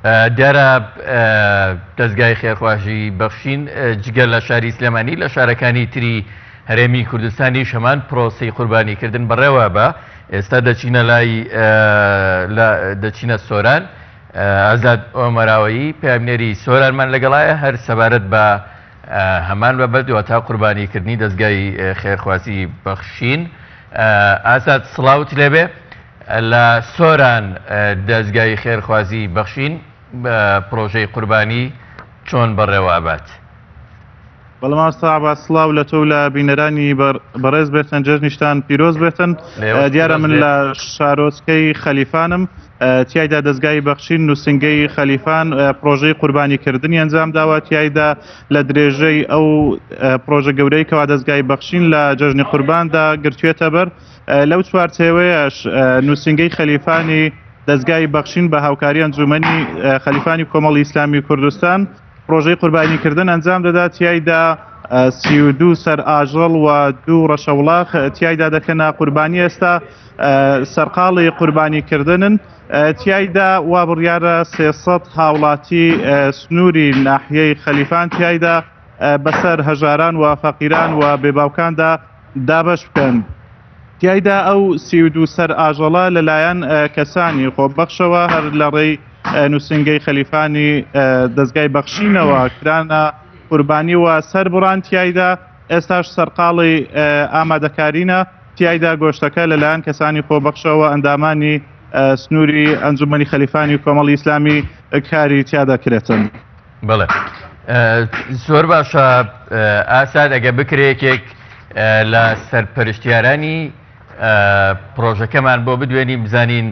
دارا دەزگای خێرخوازی بەخشین جگە لە شاری سلێمانی لە شارەکانی تری هەرێمی کوردستانیش هەمان پرۆسی قوربانیکردن بەڕێوە بە ئێستا دەچینە لای دەچینە سۆران ئازاد ئۆمەراوەیی پامنێری سۆرانمان لەگەڵایە هەر سەبارەت بە هەمان بابەت واتە قوربانی کردنی دەزگای خێرخوازی بەخشین ئازاد سڵاوت لێبێ لە سۆران دەزگای خێرخوازی بەخشین بە پرۆژەی قوربانی چۆن بەڕێوە ئەبات بەڵام ئاستابا سلااو لە تۆ لە بینەرانی بەڕێز بێتن جەژنیشتان پیرۆز بێتن دیارە من لە شارۆچکەی خەلیفانم تیایدا دەستگای بەخشین نووسنگەی خەلیفان پرۆژەی قوربانی کردنی ئەنجام داوە تیایدا لە درێژەی ئەو پرۆژە گەورەی کەوا دەستگای بەخشین لە جەژنی قورباندا گرتوێتە بەر لەو چوارچێوەیەش نووسنگەی خەلیفانی دەستگای بەخشین بە هاوکاری ئەنجومی خەلیفانی کۆمەڵی ئیسلامی کوردستان پرۆژەی قوربانیکردن ئەنجام دەدات تیایدا سی و دوو سەر ئاژەڵ و دوو ڕەشەوڵاخ تیایدا دەکەنە قوربانی ئێستا سەرقاڵی قوربانیکردنن تیایدا وا بڕیارە سێسەد هاوڵاتی سنووری ناحیەی خەلیفان تیایدا بەسەر هەژاران و فەقیران و بێباوکاندا دابەش بکەن. تیایدا ئەو سی و دوو سەر ئاژەڵە لەلایەن کەسانی خۆبەخشەوە هەر لە ڕێی نووسنگەی خەلیفانی دەستگای بەخشینەوە کرانە قوربانی و سەر بڕان تیایدا ئێستاش سەرقاڵی ئامادەکارینە تیایدا گۆشتەکە لەلایەن کەسانی خۆبەخشەوە ئەندامانی سنووری ئەنجومەنی خەلیفانی کۆمەڵی ئیسلامی کاری تیا دەکرێتن. بڵێ زۆر باشە ئاسان ئەگە بکرێکێک لە سەرپەرشتیارانی پرۆژەکەمان بۆ بدوێنی بزانین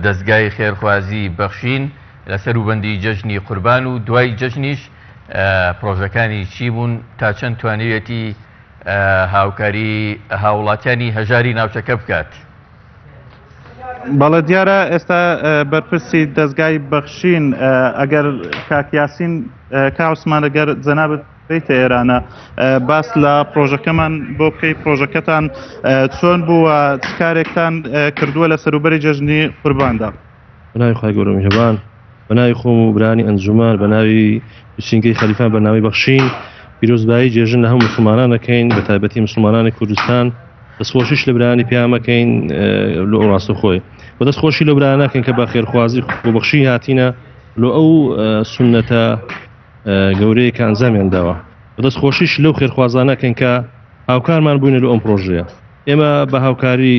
دەستگای خێرخوازی بەخشین لەسەر وبندی جەژنی قوربان و دوای جەژنیش پرۆژەکانی چی بوون تا چەند توانیویەتی هاوکاری هاوڵاتیانی هەژاری ناوچەکە بکات. بەڵە دیارە ئێستا بەرپرسی دەستگای بەخشین ئەگەر کاکیاسین کاوسمانەگەر جەنابەت بیتە ئێرانە باس لە پرۆژەکەمان بۆ بکەی پرۆژەکەتان چۆن بووە کارێکتان کردووە لە سەروبەری جەژنی قورباندا. بەناوی خی گەورە میهرەبان بەناوی خۆم و برانی ئەنجومان بەناوی بچینگەی خەلیفان بەناوی بەخشین پیرۆزبایی جێژن لە هەم مسلمانان دەکەین بە تایبەتی مسلمانانی کوردستان دەستخۆشیش لە برانی پیامەکەین لە ئەوڕاستە خۆی و دەست خۆشی لە برانەکەن کە بە خێرخوازی بەخشی هاتینە لۆ ئەو سنەتە گەورەیە کە ئەنجامیان داوە دەست خۆشیش لەو خێرخوازانەکەن کە هاوکارمان بووین لە ئەم پرۆژەیە ئێمە بە هاوکاری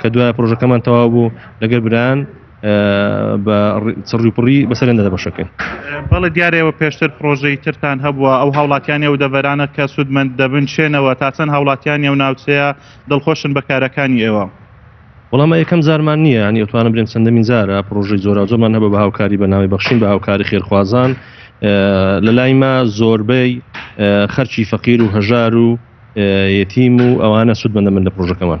کە دوای پرۆژەکەمان تەواو بوو لەگەر بران بە چڕیپڕی بەسەرێندا دەبەشەکەین بەڵە دیارەوە پێشتر پرۆژەی ترتان هەبووە ئەو هاوڵاتیانی ئەو دەڤەرانە کە سوودمەند دەبن شێنەوە تا چەند هاوڵاتیانی ئەو ناوچەیە دڵخۆشن بە کارەکانی ئێوە وەڵام یەکەم زارمان نییە ینی ئەوتوانم برێن چەندەمین زارە پرۆژەی زۆرا زۆرمان هەبە بە هاوکاری بە ناوی بەخشین بە هاوکاری خێرخوازان لە لای ما زۆربەی خەرچی فەقیر و هەژار و یەتیم و ئەوانە سوود بەە من لە پرۆژەکەمان